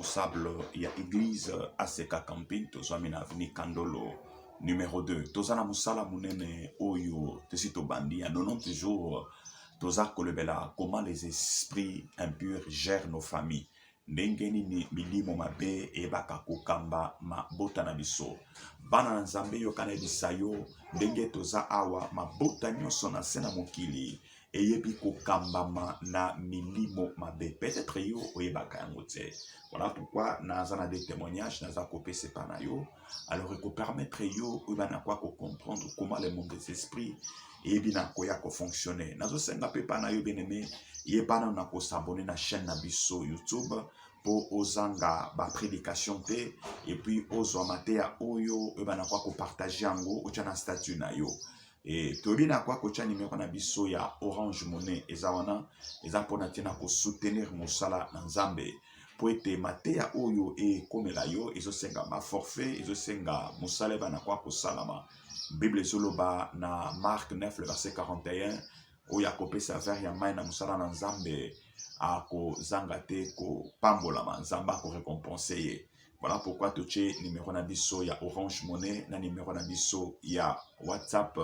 responsable ya eglise aseka camping tozwami na avenue kandolo numero 2 toza na mosala monene oyo tosi tobandi ya 90 jours toza kolobela comment les esprits impurs gèrent nos familles ndenge nini milimo mabe eyebaka kokamba mabota na biso bana na nzambe yokana yebisa yo ndenge toza awa mabota nyonso na se na mokili eyebi kokambama na milimo mabe peut-être yo oyebaka yango te voilà pourquoi naza na des témoignages naza kopesa epa na yo alors ekopermettre yo oyeba na kwa kocomprendre comment le monde des esprits eyebi na koya kofonctionne nazosenga mpe epa na yo bien aimé yeba nano na kosabone na chaîne na biso youtube mpo ozanga baprédication te epuis ozwa mateya oyo oyeba na kwa kopartage yango otya na statut na yo e, toyebi na kwa kotya nimero na biso ya orange monnaie eza wana eza mpona ntina kosoutenir mosala na nzambe mpo ete mateya oyo ekomela yo ezosenga baforfait ezosenga mosala ebana kwa kosalama bible ezoloba na mark 9 le verset 41 oyo akopesa vere ya mai na mosala na nzambe akozanga te kopambolama nzambe akorekompense ye Voilà pourquoi totie numéro na biso ya Orange Money na numéro na biso ya WhatsApp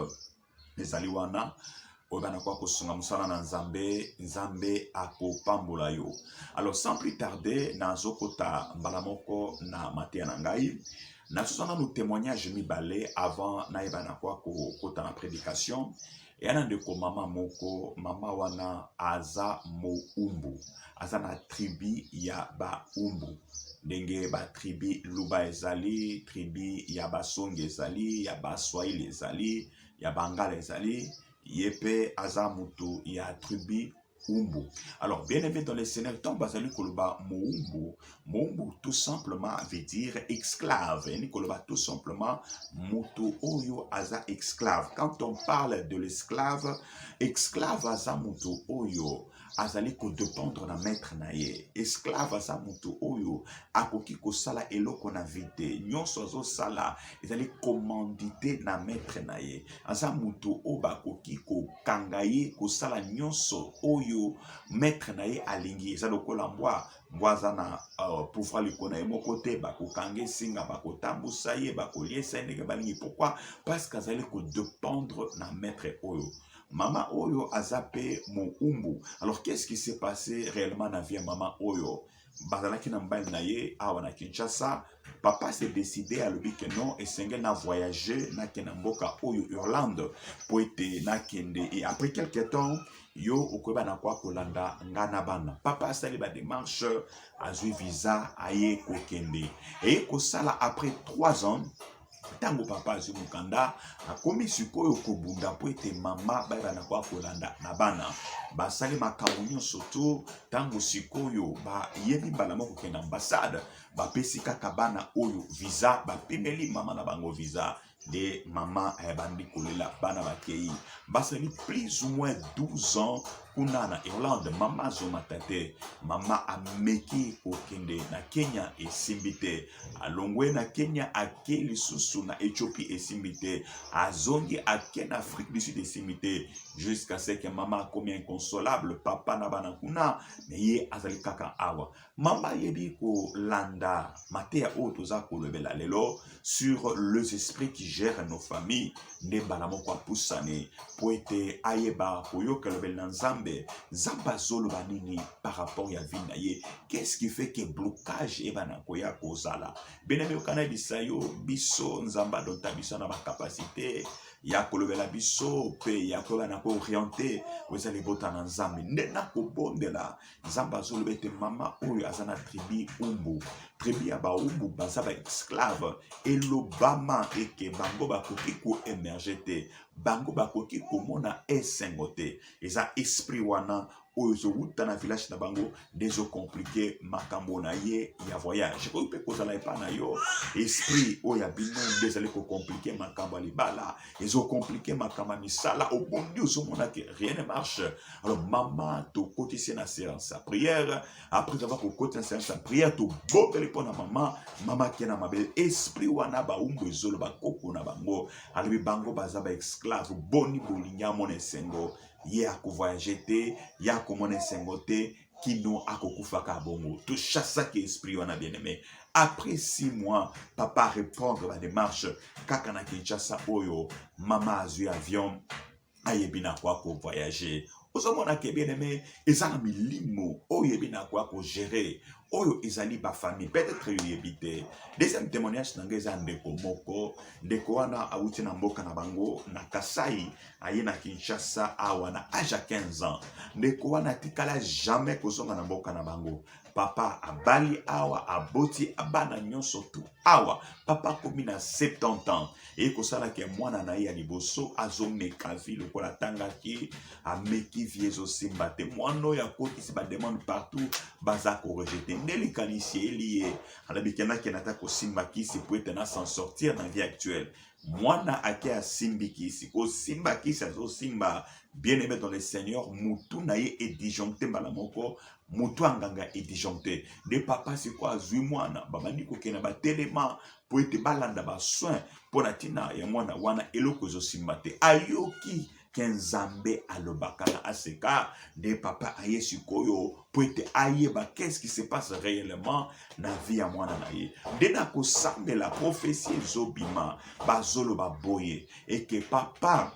ezali wana oyo bana kwa kosunga mosala na Nzambe, Nzambe akopambola yo. Alors sans plus tarder, nazokota mbala moko na mateya na ngai nazozwa nanu témoignage mibale avant nayeba na kwa kokota na prédication yana ndeko mama moko mama wana aza moumbu aza na tribu ya baumbu ndenge batribu luba ezali tribu ya basongi ezali ya baswahili ezali ya bangala ezali ye mpe aza moto ya tribu Umbu. Alors, bien aimé dans le Seigneur, tant bazali koloba moumbu, moumbu tout simplement veut dire esclave. Ni koloba tout simplement moto oyo aza esclave. Quand on parle de l'esclave, esclave aza moto oyo azali kodependre na maître na ye esclave aza moto oyo akoki kosala eloko na vie te nyonso azosala ezali commandite na maître na ye aza moto oyo bakoki kokanga ye kosala nyonso oyo maître na ye alingi eza lokola mbwa mbwa aza na uh, pouvoir likolo na ye moko te bakokanga esinga bakotambusa ye bakoliesa ye ndenge balingi pourkui parce que azali kodependre na maître oyo mama oyo aza mpe moumbu alors qu'est ce qui s'est passé réellement na vie ya mama oyo bazalaki na mobali na ye awa na kinshasa papa se décide alobi ke non esengeli na voyage nake na mboka oyo irlande mpo ete nakende e après quelque temps yo okoyeba na kwa kolanda nga na bana papa asali bademarche azwi visa aye kokende eye kosala après 3 ans ntango papa azwi mokanda akomi sikoyo kobunda mpo ete mama bayebana kwa kolanda na bana basali makambo nyonso to ntango sikoyo bayebi mbala moko kokende ambasade bapesi kaka bana oyo visa bapimeli mama na bango visa nde mama ayebandi kolela bana bakei basali plus ou moins 12 ans kuna na Irlande mama azomata te, mama ameki kokende na Kenya esimbi te, alongwe na Kenya ake lisusu na Ethiopie esimbi te, azongi ake na Afrique du Sud esimbi te, jusqu'à ce que mama akomi inconsolable, papa na bana kuna, mais ye azali kaka awa. Mama ayebi kolanda mateya oyo toza kolobela lelo sur les esprits qui gèrent nos familles nde mbala moko apusani mpo ete ayeba koyoka elobeli na nzambe nzambe azoloba nini par rapport ya vie na ye qu'est-ce qui fait que blocage ebana koya kozala bena miyokana bisa yo biso nzambe adonta biso na bacapacité ya kolobela biso mpe ya koyeba na kooriente oza libota na nzambe nde nakobondela nzambe azoloba ete mama oyo aza na tribi umbu tribi ya baumbu baza baesclave elobama eke bango bakoki koemerge te bango bakoki komona esengo te eza esprit wana oyo ezowuta na village na bango nde ezokomplike makambo na ye ya voyage oyo mpe kozala epai na yo esprit oyo ya bino nde ezali kokomplike makambo ya libala ezokomplike makambo ya misala obondi ozomona ke rien ne marche alors mama tokotisi ye na séance ya prière après avoir kokoti na séance ya prière toboteli mpo na mama mama ake na mabele esprit wana baumbu ezoloba koko na bango alobi bango baza baesclave boni bolingi amona esengo ye akovoyage te ye akomona esengo te kino akokufaka bongo tochasaki esprit wana bien aimé après six mois papa répondre badémarche kaka na kinshasa oyo mama azwi avion ayebi na kwa ko voyager ozomona ke bien aime eza na milimo oyo ebi na kwa ko gérer oyo ezali bafamille peut-être yoyebi te deuxième témoignage na ngai eza ndeko moko ndeko wana awuti na mboka na bango na kasai aye na kinshasa awa na age ya 15 ans ndeko wana atikala jamais kozonga na mboka na bango papa abali awa aboti abana nyonso tu awa papa akomi na 70 ans eye kosala ke mwana na ye ya liboso azomeka vi lokola atangaki ameki vi ezosimba te mwana oyo akotisi bademande partout baza korejete nde likanisi eyeli ye alabikendaki na ata kosimba kisi po ete na s'en sortir na vie actuelle mwana ake asimbi kisi kosimba kisi azosimba bien aimé dans le seigneur mutu na ye edisjoncte mbala moko moto anganga e disjoncteur nde papa siko azwi mwana babandi kokende na batelema mpo ete balanda basoin mpo na ntina ya mwana wana eloko ezosimba te ayoki ke nzambe alobaka na aseka nde papa aye sikoyo mpo ete ayeba qu'est-ce qui se passe réellement na vie ya mwana na ye nde na kosambela profesi ezobima bazoloba boye eke papa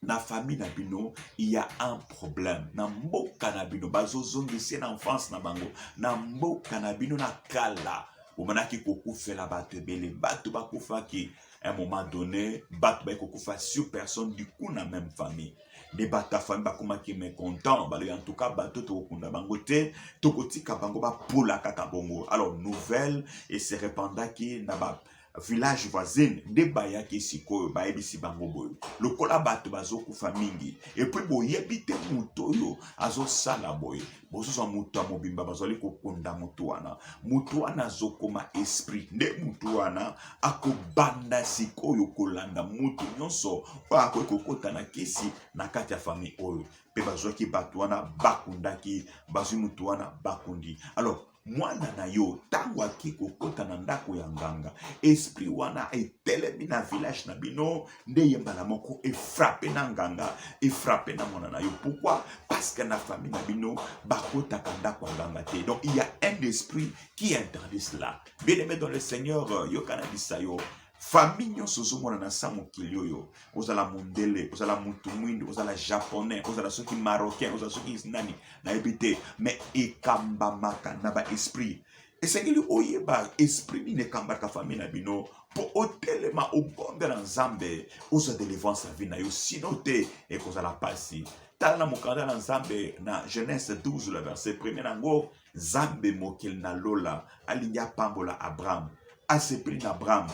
na famille na bino il y a un problème na mboka na bino bazozongisa na enfance na bango na mboka na bino na kala omonaki kokufela bato ebele bato bakufaki un moment donné bato baye kokufa sur personne du coup na même famille nde bato ya famille bakomaki mécontent balobi en tout cas bato tokokunda bango te tokotika bango bapola kaka bongo alors nouvelle ese repandaki na ba village voisine nde bayaki sikoyo bayebisi bango boye lokola bato bazokufa mingi epui boyebi te moto oyo azosala boye bozozwa moto ya mobimba bazali kokunda moto wana moto wana azokoma esprit nde moto wana akobanda sikoyo kolanda moto nyonso oyo akoki kokota na kisi na kati ya famille oyo mpe bazwaki bato wana bakundaki bazwi moto wana bakundi alors mwana na yo ntango ake kokota na ndako ya nganga esprit wana etelemi na village na bino nde ye mbala moko efrape na nganga efrape na mwana na yo pourquoi parce que na famille na bino bakotaka ndako ya nganga te donc il y a un esprit qui interdit cela bien aimé dans le seigneur euh, yokanabisa yo famille nyonso ozomona na sa mokili oyo ozala mondele ozala mutu mwindu ozala japonais ozala soki marocain ozala soki nani nayebi te mais ekambamaka na baesprit esengeli oyeba esprit nini ekambaka famille na bino mpo otelema obondela nzambe ozwa delivrance ya vie na yo sino te ekozala mpasi tala na mokanda na nzambe na genèse 12 le verset premier na yango Nzambe mokeli na lola alingi apambola Abraham, asepeli na Abraham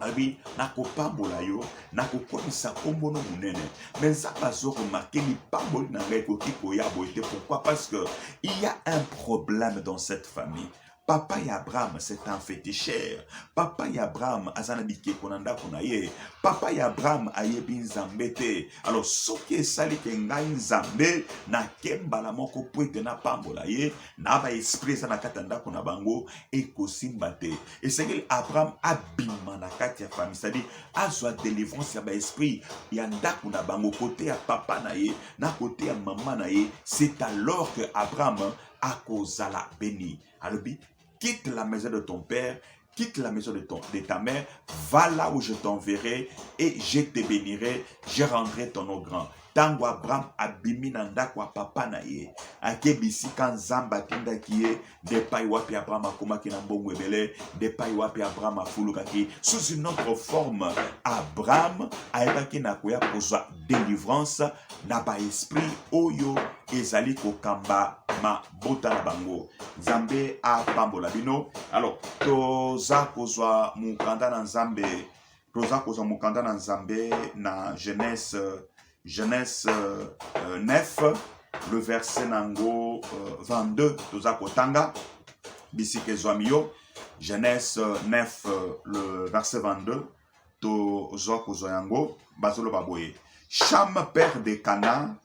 abi nakopambola yo nakokomisa nkombo no monene me nzambe azokomake lipamboli na ngai ekoki koya boye te pourquoi parce que il y a un problème dans cette famille papa ya abraham c'est un féticheur papa ya abraham aza na bikeko na ndako na ye papa ya abraham ayebi nzambe te Alors soki esali ke ngai Nzambe nake mbala moko mpo ete napambola ye na ba esprit eza na kati ya ndako na bango ekosimba te. Esengeli Abraham abima na kati ya famille, c'est-à-dire azwa delivrance ya ba esprit ya ndako na bango, kote ya papa na ye na kote ya mama na ye. C'est alors que Abraham akozala beni. Alobi quitte la maison de ton père, quitte la maison de, ton, de ta mère, va là où je t'enverrai et je te bénirai, je rendrai ton nom grand. ntango abraham abimi na ndako ya papa na ye ake bisika nzambe atindaki ye nde epai wapi abraham akomaki na mbongo ebele nde epai wapi abraham afulukaki sous une autre forme abraham ayebaki na koya kozwa délivrance na baesprit oyo ezali kokamba ma bota na bango nzambe apambola bino alors toza kozwa mokanda na nzambe toza kozwa mokanda na nzambe na genèse genèse euh, 9 euh, le verset na yango euh, 22 toza kotanga bisika ezwami yo genèse 9 euh, euh, le verset 22 tozwa kozwa yango bazoloba boye cham père de canaan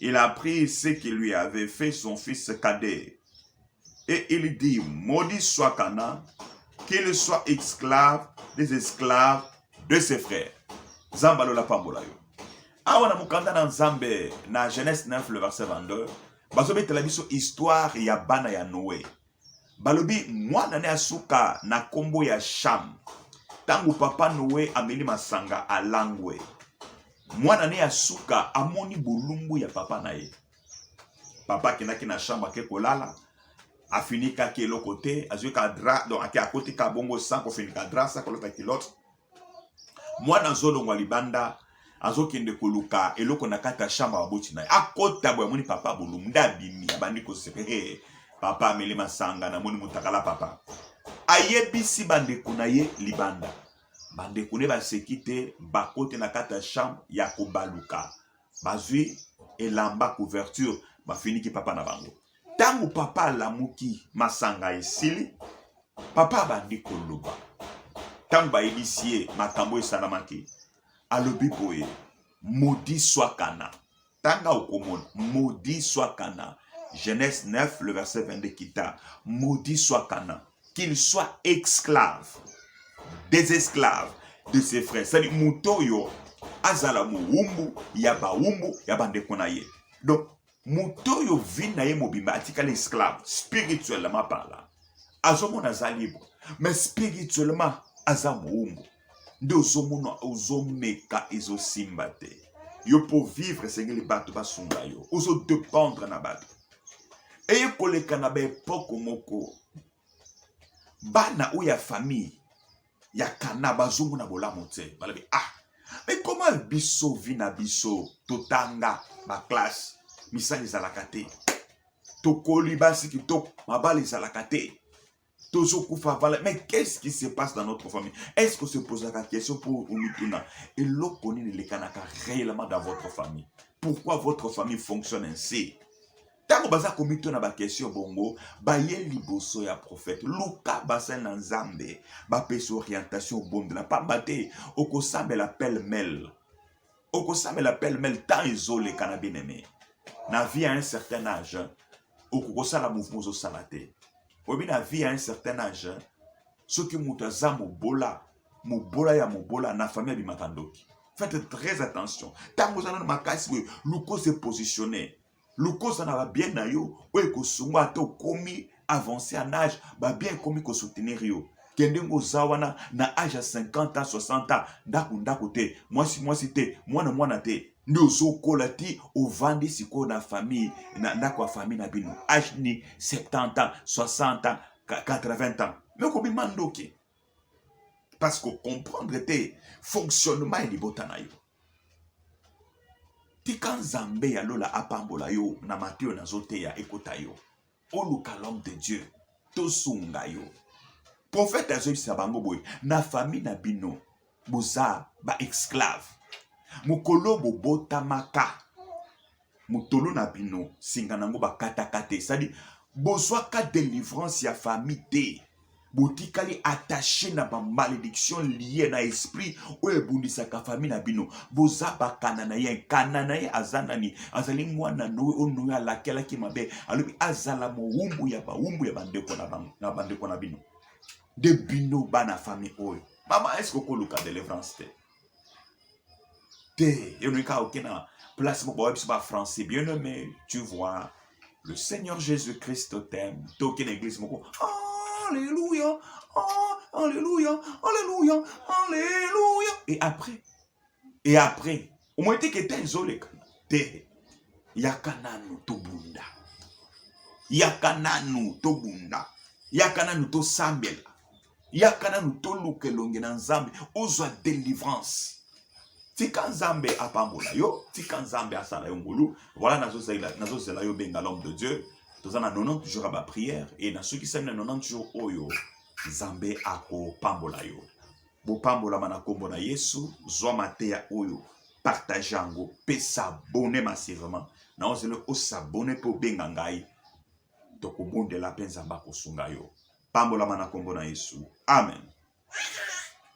Il a pris ce qui lui avait fait son fils cadet. Et il dit, maudit soit Cana, qu'il soit esclave des esclaves de ses frères. Zambalo la pambola yo. Awa na mukanda na Nzambe na Genèse 9 le verset 22, bazobetela biso histoire ya bana ya Noé. Balobi mwana ne asuka na kombo ya Sham. Tango papa Noe ameli masanga alangwe, mwana ne ya suka amoni bolumbu ya papa na ye. Papa akendaki na chambre ake kolala, afinikaki eloko te, azwika drap, donc ake akotika bongo sans kofinika drap, sans kolata culotte. mwana azolongwa libanda azokende koluka eloko na kati ya shamba baboti na ye akota boye amoni papa bolumu nde abimi abandi koseka hey, papa ameli masanga namoni motakala papa ayebisi bandeko na ye libanda bandeko ne baseki te bakote na kati ya chambre ya kobaluka bazwi elamba couverture bafiniki papa na bango ntango papa alamuki masanga esili papa abandi koloba ntango bayebisi ye makambo esalamaki alobi boye modi swakana tanga okomona modi swakana genèse 9 le verset 22 kita modi swakana qu'il soit esclave des esclaves de ses frères cest moto oyo azala mowumbu ya bawumbu ya bandeko na ye donc moto oyo vi na ye mobimba atikala esclave spirituellement parla azomona aza libre mais spirituellement aza mowumbu nde ozomona ozomeka ezosimba te yo mpo vivre esengeli bato basunga yo ozodependre na bato eye koleka na baepoke moko bana oyo ya famille ya kana bazongo na bolamu te balobi ah me koma biso vi na biso totanga baklasse misala ezalaka te tokoli basi kitoko mabala ezalaka te tozo kufa vala mais qu'est-ce qui se passe dans notre famille est-ce que se posaka question pour omituna eloko nini elekanaka réellement dans votre famille pourquoi votre famille fonctionne ainsi ntango baza komituna bakestion bongo baye liboso ya profete luka basali na nzambe bapesa orientation obondela mpamba te okosambela pele mele okosambela pelmel temps ezoleka na bien aime na vie à un certain âge okokosala mouvement ozosala te oyebi na vie à un certain âge soki moto aza mobola mobola ya mobola na famille abimaka ndoki faites très attention ntango oza nano makasi boye luka ose positionne lukosa na babien na yo oyo ekosunga ata okomi avance en age babien ekomi kosoutenir yo kende ngo oza wana na age ya 50 ans 60 ans ndako ndako te mwasi mwasi te mwana mwana te nde ozokola ti ovandi sikoyo na famille na ndako ya famille na bino age ni 70 ans 60 ans 80 ans me kobima ndoki parce que comprendre te fonctionnement ya libota na yo tika nzambe ya lola apambola yo na mate oyo nazoteya ekota yo oluka l'homme de dieu tosunga yo profete azoyebisa bango boye na famille na bino boza baesclave mokolo bobotamaka motolo na bino singa nango bakatakata esadi bozwaka delivrance ya famille te botikali attache na bamalediction lie na esprit oyo ebundisaka famille na bino boza bakananayen kananaye aza nani azali mwana noe oyo noe alakelaki mabe alobi azala mowumbu ya bawumbu ya bandeko na bandeko na bino nde bino bana famille oyo mama eske okoluka delivrance te te yo olingi kaka oke na place moko bayebi biso bafrançais bien aimé tu vois le seigneur jésus christ t'aime to oke na église moko alleluia alleluia alleluia alleluia et après et après omoni te keta ezoleka te yaka nanu tobunda yaka nanu tobunda yaka nanu tosambela yaka nanu toluka elongi na nzambe ozwa delivrance tika nzambe apambola yo tika nzambe asala yo ngolu voilà nazozela yo benga l'homme de dieu toza na 90 jours ya baprière e nasukisami na 90 jours oyo nzambe akopambola yo bopambolama na nkombo na yesu zwa mateya oyo partage yango mpe sabone masivement na ozeli osabone mpe obenga ngai tokobondela mpe Nzambe akosunga yo. Pambolama na kombo na Yesu, amen.